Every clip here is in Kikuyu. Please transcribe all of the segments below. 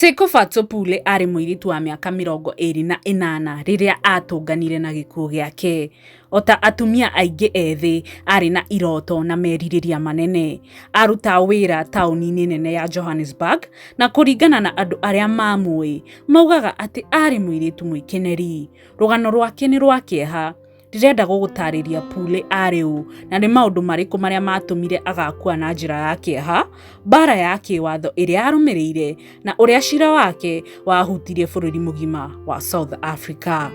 Tekofa Tsopule aarĩ mũirĩtu wa mĩaka mĩrongo ĩrĩ na ĩnana rĩrĩa aatũnganire na gĩkuũ gĩake. O ta atumia aingĩ ethĩ, aarĩ na iroto na merirĩria manene. Aarutaga wĩra taũni-inĩ nene ya Johannesburg, na kũringana na andũ arĩa maamũĩ, moigaga atĩ aarĩ mũirĩtu mwĩkeneri. Rũgano rwake nĩ rwa kĩeha. Ndĩrenda gũgũtaarĩria Pule aarĩ ũ, na nĩ maũndũ marĩkũ marĩa maatũmire agakua na njĩra ya kĩeha, mbaara ya kĩĩwatho ĩrĩa yarũmĩrĩire, na ũrĩa cira wake wahutirie bũrũri mũgima wa South Africa.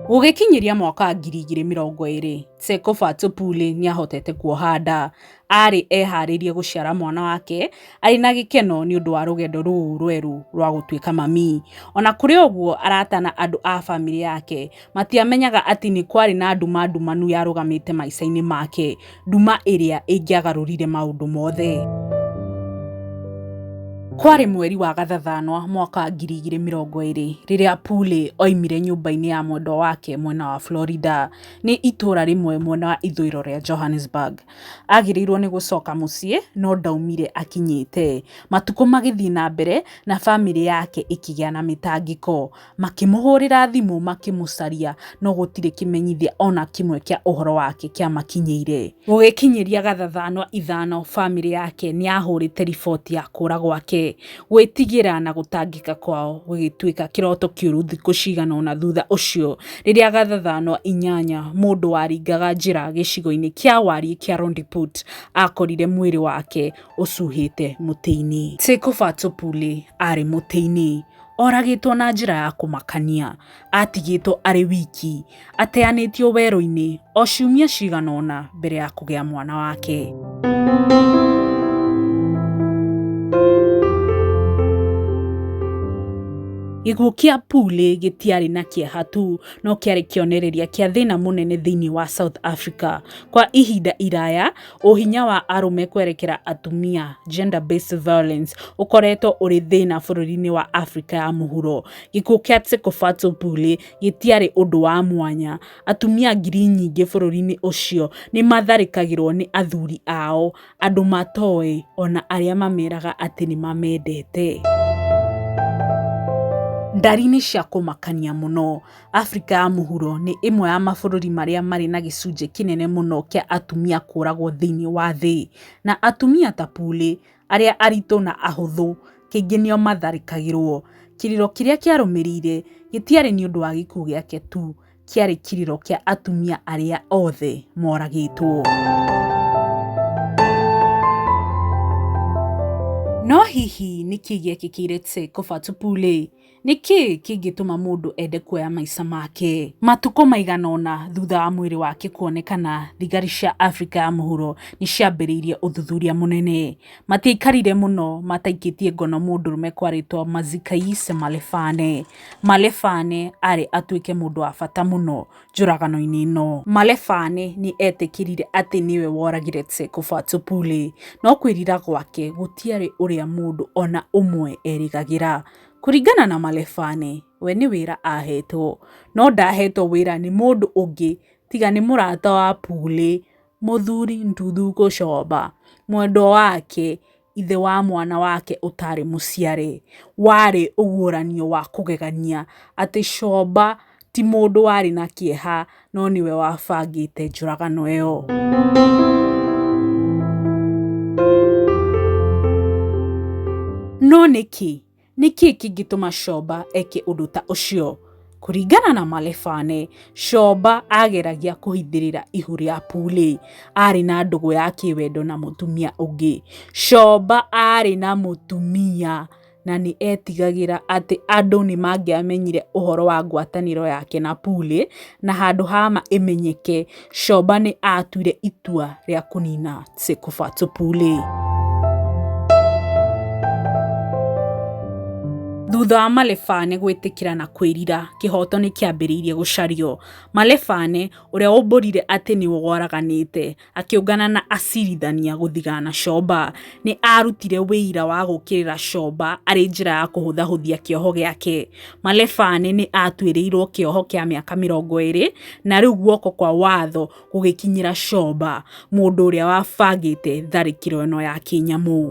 Gũgĩkinyĩria mwaka wa ngiri igĩrĩ mĩrongo ĩĩrĩ, Tsekofatso Pule nĩ aahotete kuoha nda. aarĩ eharĩirie gũciara mwana wake arĩ na gĩkeno nĩ ũndũ wa rũgendo rũu rwerũ rwa gũtuĩka mami. O na kũrĩ ũguo, arata na andũ a famĩlĩ yake matiamenyaga atĩ nĩ kwarĩ na nduma ndumanu yarũgamĩte maica-inĩ make, nduma ĩrĩa ĩngĩagarũrire maũndũ mothe. Kwarĩ mweri wa Gathathanwa mwaka wa ngiri igĩrĩ mĩrongo ĩrĩ rĩrĩa Pule oimire nyũmba-inĩ ya mwendwa wake mwena wa Florida, nĩ itũũra rĩmwe mwena wa ithũĩro rĩa Johannesburg. agĩrĩirwo nĩ gũcoka mũciĩ no ndaumire akinyĩte. Matukũ magĩthiĩ na mbere na bamĩrĩ yake ĩkĩgĩa na mĩtangĩko. Makĩmũhũrĩra thimũ makĩmũcaria no gũtirĩ kĩmenyithia ona kĩmwe kĩa ũhoro wake kĩamakinyĩire. Gũgĩkinyĩria gathathanwa ithano bamĩrĩ yake nĩyahũrĩte riboti ya kũra gwake. Gwĩtigĩra na gũtangĩka kwao gũgĩtuĩka kĩroto kĩũru thikũ cigana ũna thutha ũcio, rĩrĩa gathathano inyanya mũndũ waringaga njĩra gĩcigo-inĩ kĩa wariĩ kĩa Rondiput akorire mwĩrĩ wake ũcuhĩte mũtĩ-inĩ. Tsekofa Tsopule aarĩ mũtĩ-inĩ, oragĩtwo na njĩra ya kũmakania. atigĩtwo arĩ wiki, ateanĩtio werũ-inĩ o ciumia cigana ũna mbere ya kũgĩa mwana wake. Gĩkuũ kĩa Pule gĩtiarĩ na kĩeha tu, no kĩarĩ kĩonereria kĩa thĩna mũnene thĩinĩ wa South Africa. Kwa ihinda iraya, ũhinya wa arũme kwerekera atumia, gender based violence, ũkoretwo ũrĩ thĩna bũrũri-inĩ wa Africa ya mũhuro. Gĩkuũ kĩa Tsekofatso Pule gĩtiarĩ ũndũ wa mwanya. Atumia ngiri nyingĩ bũrũri-inĩ ũcio nĩ maatharĩkagĩrũo nĩ athuri ao, andũ matoĩ, o na arĩa mameraga atĩ nĩ mamendete. Ndari-inĩ cia kũmakania mũno, Afrika ya Mũhuro nĩ ĩmwe ya mabũrũri marĩa marĩ na gĩcunjĩ kĩnene mũno kĩa atumia kũũragwo thĩinĩ wa thĩ. Na atumia ta Pule, arĩa aritũ na ahũthũ, kaingĩ nĩo maatharĩkagĩrũo. Kĩrĩro kĩrĩa kĩarũmĩrĩire gĩtiarĩ nĩ ũndũ wa gĩkuũ gĩake tu, kĩarĩ kĩrĩro kĩa atumia arĩa othe mooragĩtwo. No hihi nĩ kĩĩ gĩekĩkĩire Tse Kofa Tupou-rĩ? Nĩ kĩĩ kĩngĩtũma mũndũ ende kuoya maica make? Matukũ maigana ũna thutha wa mwĩrĩ wake kuonekana, thigari cia Afrika ya Mũhuro nĩ ciambĩrĩirie ũthuthuria mũnene. Matiaikarire mũno mataikĩtie ngono mũndũrũme kwarĩtwo Mazikayise Malefane. Malefane arĩ atuĩke mũndũ wa bata mũno njũragano-inĩ ĩno. Malefane nĩ eetĩkĩrire atĩ nĩwe woragire Tseko Fatsopule, no kwĩrira gwake gũtiarĩ ũrĩa mũndũ o na ũmwe erĩgagĩra. Kũringana na Malefane, we nĩ wĩra ahetwo, no ndahetwo wĩra nĩ mũndũ ũngĩ tiga nĩ mũrata wa Pule, Mũthuri Ndudu Gũcomba, mwendwa wake, ithe wa mwana wake ũtarĩ mũciare. Warĩ ũguũranio wa kũgegania atĩ Comba ti mũndũ warĩ na kĩeha. no nĩwe wabangĩte njũragano ĩyo. No nĩkĩ? Nĩkĩ kĩngĩtũma Shoba eke ũndũ ta ũcio? Kũringana na Malefane, Shoba ageragia kũhithĩrĩra ihu rĩa Pule. Arĩ na ndũgũ ya kĩwendo na mũtumia ũngĩ. Shoba arĩ na mũtumia. na nĩ eetigagĩra atĩ andũ nĩ mangĩamenyire ũhoro wa ngwatanĩro yake na Pule, na handũ ha ma ĩmenyeke, Shoba nĩ aatuire itua rĩa kũniina Tsekofatso Pule. Thutha wa Malefane gwĩtĩkĩra na kwĩrira, kĩhooto nĩ kĩambĩrĩirie gũcario. Malefane, ũrĩa wombũrire atĩ nĩ woraganĩte, Akĩũngana na acirithania gũthigana Shoba. Nĩ aarutire wĩira wa gũkĩrĩra Shoba arĩ njĩra ya kũhũthahũthia kĩoho gĩake. Malefane nĩ aatuĩrĩirwo kĩoho kĩa mĩaka mĩrongo ĩrĩ na rĩu guoko kwa watho gũgĩkinyĩra Shoba, mũndũ ũrĩa wabangĩte tharĩkĩro ĩno ya kĩnyamũ.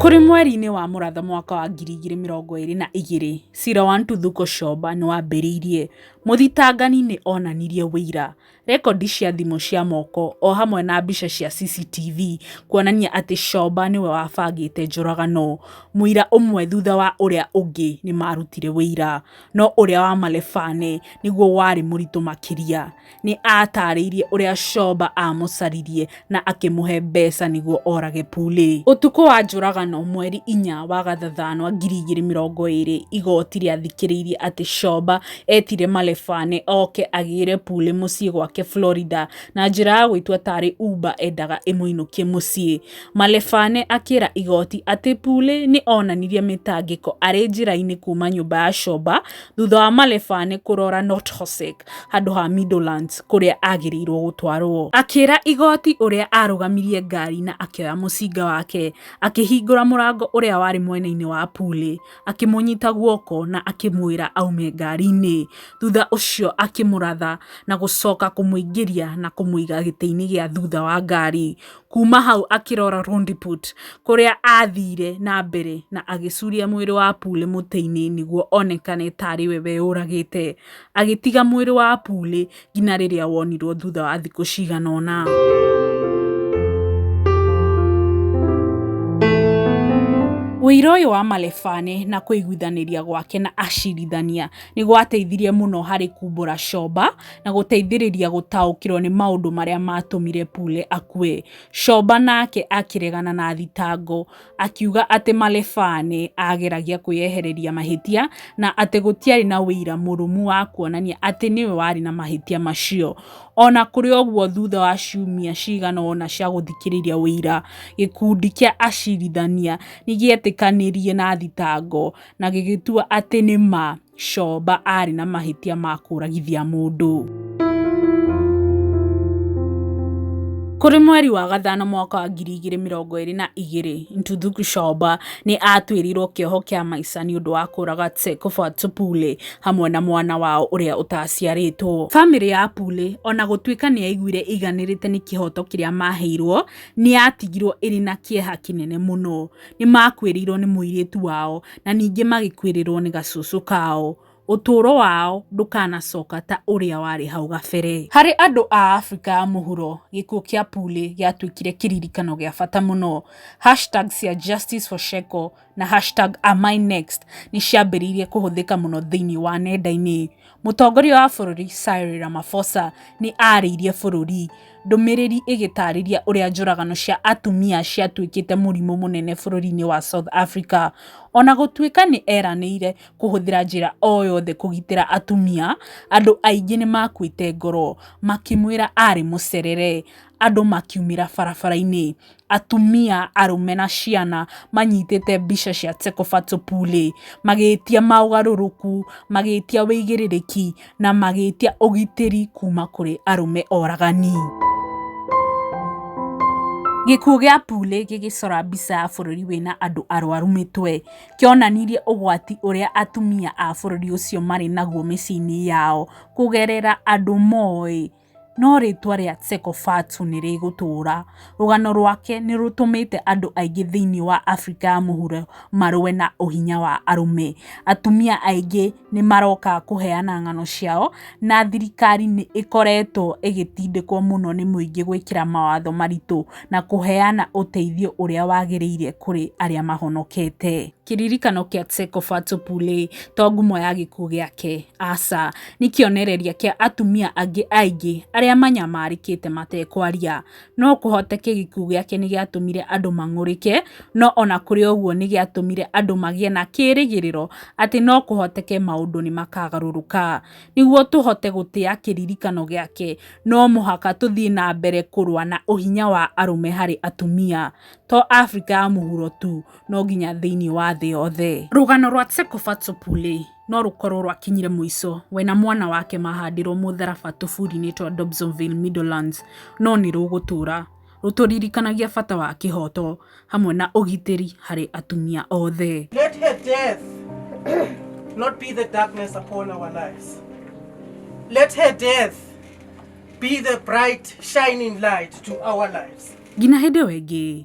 Kũrĩ mweri-inĩ wa mũratha mwaka wa ngiri igĩrĩ mĩrongo ĩrĩ na igĩrĩ, cira wa Ntuthuko Shoba nĩ wambĩrĩirie. Mũthitangani nĩ onanirie ũira, rekondi cia thimũ cia moko o hamwe na mbica cia CCTV kuonania atĩ Shoba nĩwe wabangĩte njũragano. Mũira ũmwe thutha wa ũrĩa ũngĩ nĩ maarutire ũira. No ũrĩa wa Malefane nĩguo warĩ mũritũ makĩria. Nĩ aataarĩirie ũrĩa Shoba aamũcaririe na akĩmũhe mbeca nĩguo orage Pule. Ũtukũ wa njũragano mweri inya wa gathathanwa ngiri igĩrĩ mĩrongo ĩrĩ igoti rĩathikĩrĩirie atĩ Shoba etire Malefane oke agĩre Pule mũciĩ gwake Florida na njĩra ya gwĩtua tarĩ Uber endaga ĩmũinũkie mũciĩ. Malefane akĩra igoti atĩ Pule nĩ onanirie mĩtangĩko arĩ njĩra-inĩ kuma nyũmba ya Shoba thutha wa Malefane kũrora Nothosek. handũ ha Midlands kũrĩa agĩrĩirwo gũtwarwo. Akĩra igoti ũrĩa arũgamirie ngari na akĩoya mũcinga wake, akĩhingũra mũrango ũrĩa warĩ mwena-inĩ wa Pule, akĩmũnyita guoko na akĩmwĩra aume ngari-inĩ. Thutha ũcio akĩmũratha na gũcoka kũmũingĩria na kũmũiga gĩtĩ-inĩ gĩa thutha wa ngari. Kuma hau akĩrora Rondiput kũrĩa athire na mbere na agĩcuria mwĩrĩ wa Pule mũtĩ-inĩ nĩguo onekane tarĩ we weyũragĩte. agĩtiga mwĩrĩ wa Apuli nginya rĩrĩa wonirwo thutha wa thikũ cigana ũna. Ũira ũyũ wa Malefane na kũiguithanĩria gwake na acirithania nĩ gwateithirie mũno harĩ kumbũra Shoba na gũteithĩrĩria gũtaũkĩrwo nĩ maũndũ marĩa maatũmire Pule akue. Shoba nake akĩregana na thitango akiuga atĩ Malefaa nĩ aageragia kwĩyehereria mahĩtia na atĩ gũtiarĩ na ũira mũrũmu wa kuonania atĩ nĩwe warĩ na mahĩtia macio. O na kũrĩ ũguo, thutha wa ciumia cigana ũna cia gũthikĩrĩria ũira, gĩkundi kĩa acirithania nĩ gĩetĩkanirie na thitango na gĩgĩtua atĩ nĩ ma Coba aarĩ na mahĩtia ma kũragithia mũndũ. Kũrĩ mweri wa gatano mwaka wa ngiri igĩrĩ mĩrongo ĩrĩ na igĩrĩ, Ntuthuku Coba nĩ aatuĩrĩirwo kĩoho kĩa maica nĩ ũndũ wa kũraga Tsekofa Tsupule hamwe na mwana wao ũrĩa ũtaciarĩtwo. Famĩlĩ ya Pule, o na gũtuĩka nĩ yaiguire ĩiganĩrĩte nĩ kĩhooto kĩrĩa maaheirwo, nĩ yatigirwo ĩrĩ na kĩeha kĩnene mũno. nĩ makuĩrĩirwo nĩ mũirĩtu wao, na ningĩ magĩkuĩrĩrwo nĩ gacũcũ kao. Ũtũũro wao ndũkanacoka ta ũrĩa warĩ hau gabere. Harĩ andũ a Afrika ya Mũhuro, gĩkuũ kĩa Pule gĩatuĩkire kĩririkano gĩa bata mũno. Hashtag cia Justice for Sheko na hashtag AmInext nĩ ciambĩrĩirie kũhũthĩka mũno thĩinĩ wa nenda-inĩ. Mũtongoria wa bũrũri Cyril Ramaphosa nĩ aarĩirie bũrũri ndũmĩrĩri ĩgĩtaarĩria ũrĩa njũragano cia atumia ciatuĩkĩte mũrimũ mũnene bũrũri-inĩ wa South Africa. O na gũtuĩka nĩ eranĩire kũhũthĩra njĩra o yothe kũgitĩra atumia, andũ aingĩ nĩ maakuĩte ngoro makĩmwĩra arĩ mũcerere, andũ makiumĩra barabara-inĩ. atumia, arũme na ciana manyitĩte mbica cia Tsekofatso Pule magĩtia maũgarũrũku, magĩtia wĩigĩrĩrĩki na magĩtia ũgitĩri kuma kũrĩ arũme oragani. Gĩkuũ gĩa Pule gĩgĩcora mbica ya bũrũri wĩna andũ arwaru mĩtwe, kĩonanirie ũgwati ũrĩa atumia a bũrũri ũcio marĩ naguo mĩciĩ-inĩ yao kũgerera andũ moĩ. No rĩĩtwa rĩa Tsekofatsu nĩ rĩgũtũũra. Rũgano rwake nĩ rũtũmĩte andũ aingĩ thĩinĩ wa Afrika ya Mũhuro marũe na ũhinya wa arũme. Atumia aingĩ nĩ maroka kũheana ng'ano ciao, na thirikari nĩ ĩkoretwo ĩgĩtindĩkwo mũno nĩ mũingĩ gwĩkĩra mawatho maritũ na kũheana ũteithio ũrĩa wagĩrĩire kũrĩ arĩa mahonokete. kĩririkano kĩa Tseko Fato Pule to ngumo ya gĩkuũ gĩake, aca, nĩ kĩonereria kĩa atumia angĩ aingĩ arĩa manyamarĩkĩte matekwaria. No kũhoteke gĩkuũ gĩake nĩ gĩatũmire andũ mang'ũrĩke, no o na kũrĩ ũguo nĩ gĩatũmire andũ magĩe na kĩĩrĩgĩrĩro atĩ no kũhoteke maũndũ nĩ makagarũrũka. Nĩguo tũhote gũtĩa kĩririkano gĩake, no mũhaka tũthiĩ na mbere kũrũa na ũhinya wa arũme harĩ atumia, to Afrika ya Mũhuro tu, no nginya thĩinĩ wa thĩ yothe. Rũgano rwa Tsekofatso Pule no rũkorũo rwakinyire mũico, we na mwana wake mahandirũo mũtharaba tũbũri-inĩ twa Dobsonville Meadowlands, no nĩ rũgũtũũra rũtũririkanagia bata wa kĩhooto hamwe na ũgitĩri harĩ atumia othe. Let her death not be the darkness upon our lives. Let her death be the bright shining light to our lives. Nginya hĩndĩ ĩyo ĩngĩ.